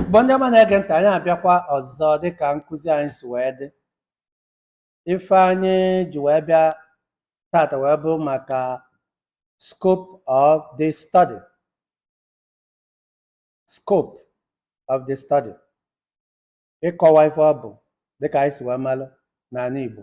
Igbo ndị ọma na-ege ntị anyị abịakwa ọzọ dịka nkụzi anyị si wee dị ife anyị ji wee bịa tata wee bụrụ maka scope of the study scope of the study ịkọwa ife ọ bụ dịka anyị si wee malụ n'anị Igbo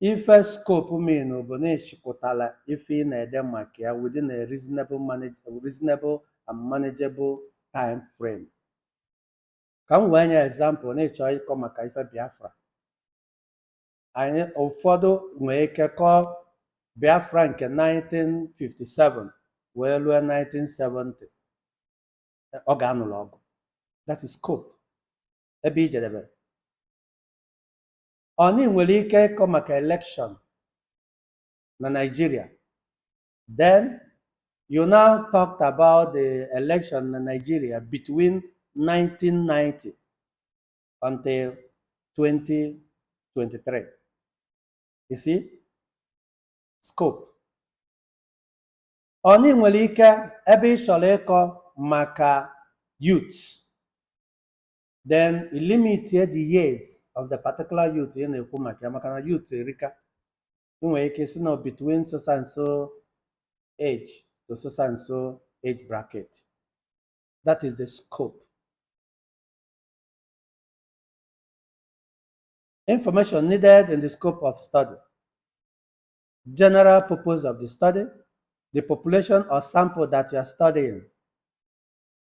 Ife scope mean bụ na ị chịkọtara ife ị na-ede maka ya within a reasonable manage, reasonable and manageable time frame. Ka m wee nye example na ịchọ ịkọ maka ife Biafra. Anyị ụfọdụ nwee ike kọọ Biafra nke 1957 wee ruo 1970 oge a nụlụ ọgụ. That is scope ebe i jedebere. or na ị nwere ike ịkọ maka election na Nigeria then you now talked about the election na Nigeria between 1990 until 2023 you see scope or na ị nwere ike ebe ị chọrọ ịkọ maka youth then i limit ya the years of the particular youth ị na-ekwu maka ya maka na youth erika ị nwere ike si na between so and so age to so and so age bracket that is the scope information needed in the scope of study general purpose of the study the population or sample that you are studying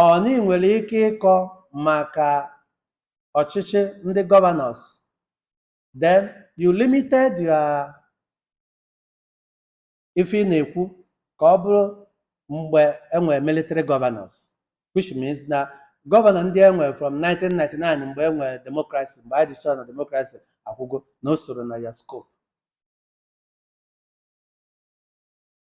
Or na ị nwere ike ịkọ maka ọchịchị ndị gọvanọs then you limited your ife ị na-ekwu ka ọ bụrụ mgbe enwere military governors which means na gọvanọ ndị enwere from 1999 mgbe enwere democracy mgbe anyị dịchọrọ na democracy akwụgo na o sorọ na ya scope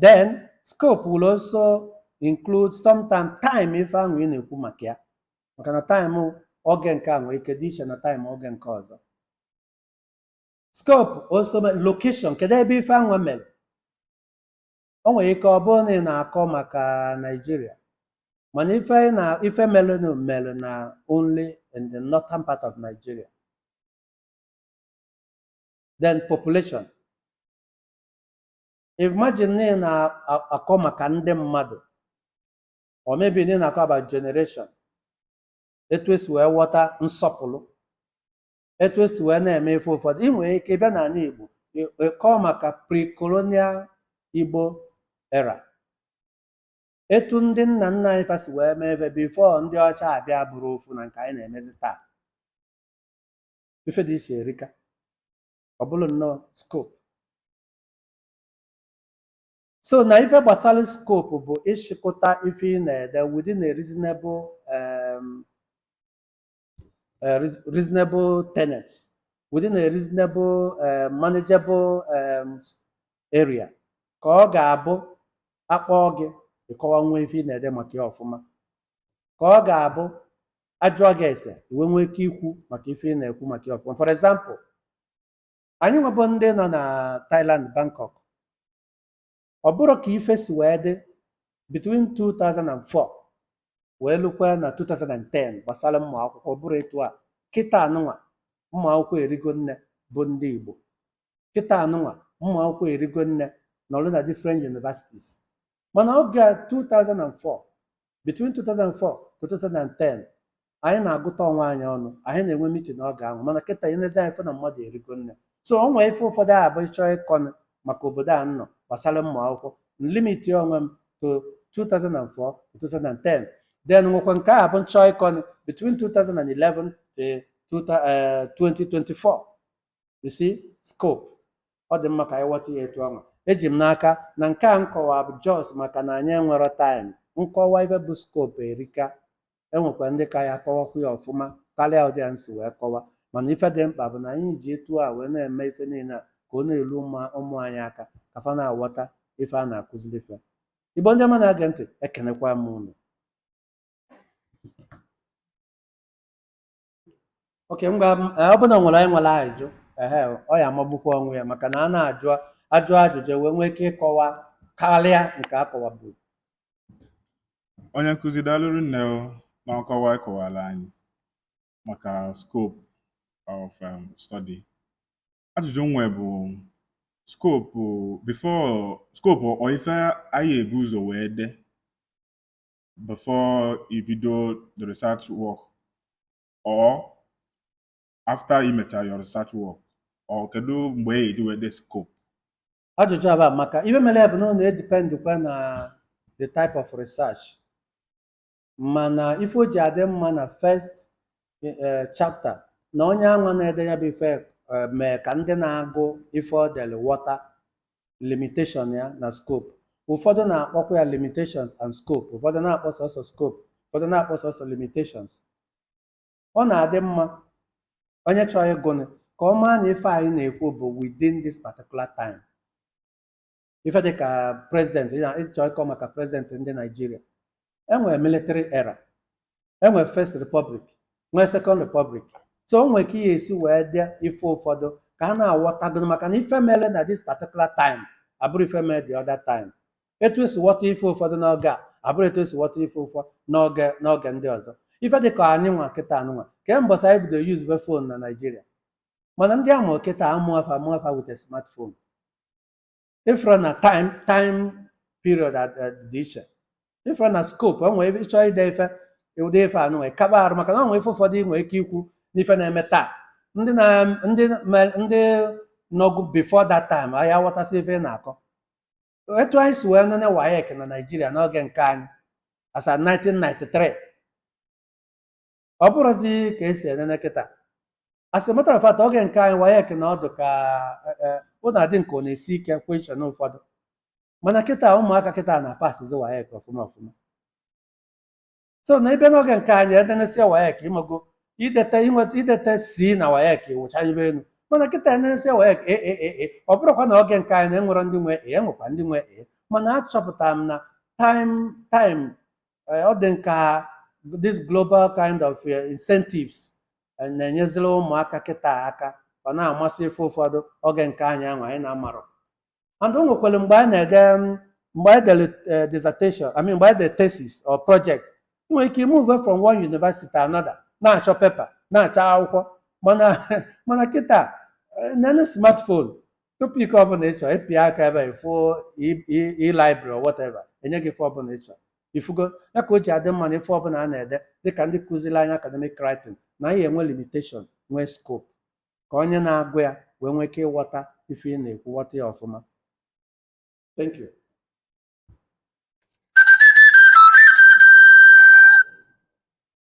then scope will also include sometime time ife anwa ị na-ekwu maka ya maka na time oge nke a nwere ike dị iche na time oge nke ọzọ scope also mean location kedu ebe ife anwa mere o nwere ike ọ bụrụ na ị na-akọ maka Nigeria mana ife anyị na ife merenụ mere na only in the northern part of Nigeria then population imagine na ị na-akọ maka ndị mmadụ or maybe na ị na-akọ about generation etu esi wee ghọta nsọpụrụ etu esi wee na-eme ife ụfọdụ ị nwere ike bịa n'anị Igbo ị- ị kọọ maka pre-colonial Igbo era etu ndị nna nna anyị fa si wee mee ife before ndị ọcha abịa abụrọ ofu na nke anyị na-emezi taa ife dị iche erika ọ bụrụ nnọọ scope so na ife gbasara scope bụ ịchịkọta ife ị na-ede within a reasonable um, uh, reas- reasonable tenet within a reasonable uh, manageable um, area ka ọ ga-abụ a kpọọ gị ị kọwanwuo ife ị na-ede maka ya ọfụma ka ọ ga-abụ a jụọ gị ese i wee nwee ike ikwu maka ife ị na-ekwu maka ya ọfụma for example anyị nwa bụ ndị nọ na Thailand Bangkok ọ bụrọ ka ife si wee dị between 2004 wee lukwa na 2010 gbasara ụmụ akwụkwọ ọ bụrọ etu a kịtaa nụnwa ụmụ akwụkwọ erigo nne bụ ndị Igbo kịtaa nụnwa ụmụ akwụkwọ erigo nne nọrụ na different universities mana oge a 2004 between 2004 to 2010 anyị na-agụta onwe anyị ọnụ anyị na-enwe meeting oge ahụ mana kịtaa i nezie anya ị fụ na mmadụ erigo nne so o nwee ife ụfọdụ ga-abụ ị chọọ ịkọnụ maka obodo a nọ gbasara ụmụ akwụkwọ m limitie onwe m to 2004 to 2010 then nwekwa nke ga-abụ m chọọ ịkọnụ between 2011 to 2024 you see scope ọ dị mma ka anyị ghọta ya etu ahụ eji m n'aka na nke a m kọwa bụ just maka na anyị enwero time nkọwa ife bụ scope erika e nwekwa ndị ka ya-akọwakwu ya ọfụma karịa ụdị a m si wee kọwa mana ife dị mkpa bụ na anyị ji etu a wee na-eme ife niile a ka ọ na-eru ụmụ- ụmụ anyị aka ka fa na-aghọta ife a na-akụziri fa Igbo ndị ọma na-ege ntị ekenekwa m unu okay ngwa ọ bụrụ na e nwere onye nwere ajụjụ ehe ọ ya amagbukwa onwe ya maka na a na-ajụ a jụọ ajụjụ e wee nwee ike ịkọwa karịa nke a kọwaburu onye nkụzi daalụ rinne o na nkọwa ị kọwara anyị maka scope of um, study ajụjụ m nwe bụ scope before scope ọ ife anyị ebu ụzọ wee de before i bido the research work or after i mechara your research work or kedu mgbe e ji wee de scope ajụjụ a amaka ife mere ya bụ na ọ na-edipendịkwa na the type of research mana ife o ji adị mma na first eh, chapter na onye anwa na-ede ya bụ ife eh, mee ka ndị na-agụ ife ọ dere ghọta limitation ya na scope ụfọdụ na-akpọkwa ya limitations and scope ụfọdụ na-akpọ sọsọ scope ụfọdụ na-akpọ sọsọ limitations ọ na-adị mma onye chọrọ ịgụnụ ka ọ maa na ife anyị na-ekwu bụ within this particular time ife dị ka president ị na- ị chọrọ ịkọ maka president ndị Naijiria enwere military era enwere first republic nwee second republic so o nwere ka ihe esi wee dị ife ụfọdụ ka a na-aghọtago maka na ife mere na this particular time abụrọ ife mere the other time etu esi ghọta ife ụfọdụ n'oge a abụrọ etu esi ghọta ife ụfọdụ n'oge n'oge ndị ọzọ ife dị ka anyị nwa kịta anụnwa kee mbọsị anyị bido yuzube phone na naijiria mana ndị a mụrụ kịta amụọ fa amụọ fa with smartphone ịfụrụ na time time period ad- ad- dị iche ịfụrụ na scope o nwere ịchọ ide ife ụdị ife a nụnwa ka ọ baa uru maka na o nwere ife ụfọdụ ị nwere ike ikwu n'ife na-eme taa ndị na ndị me- ndị nọgụ before that time aya aghọtasị ife ị na-akọ etu anyị si wee nene WAEC na naijiria n'oge nke anyị as at 1993 ọ bụrọzi ka esi enene kịta as a matter of fact oge nke anyị WAEC na ọ dị ka eh, eh, ọ na-adị nke ọ na-esi ike question ụfọdụ mana kịta ụmụaka kịta na-apasizi WAEC ọfụma ọfụma so na ebe n'oge nke anyị enenesia WAEC ịmago idete inweta idete C na WAEC wụcha ibe elu mana kịta enenesia WAEC A A A A ọ bụrọkwa na oge nke anyị na enwerọ ndị nwe A enwekwa ndị nwe A mana achọpụtara m na time time eh, ọ dị nka this global kind of eh, incentives eh, na-enyeziri ụmụaka kịta aka ọ na-amasị ife ụfọdụ oge nke anyị ahụ anyị na-amarọ and o nwekwara mgbe anyị na-ede mm, mgbe anyị dere eh, dissertation I mean mgbe anyị dere thesis or project ị nwere ike move from one university to another na-achọ paper na-achọ akwụkwọ mana mana kịta eh, nene smartphone topic ọbụna ị chọrọ ịpịa aka ebe a ịfụ e-library or whatever enye gị ife ọbụna ị chọrọ ịfụgo ya ka o ji adị mma na ife ọbụna a na-ede dịka ndị kụziri anyị academic writing na ị ya-enwe limitation nwee scope ka onye na-agụ ya wee nwee ike ịghọta ife ị na-ekwu ghọta ya ọfụma thank you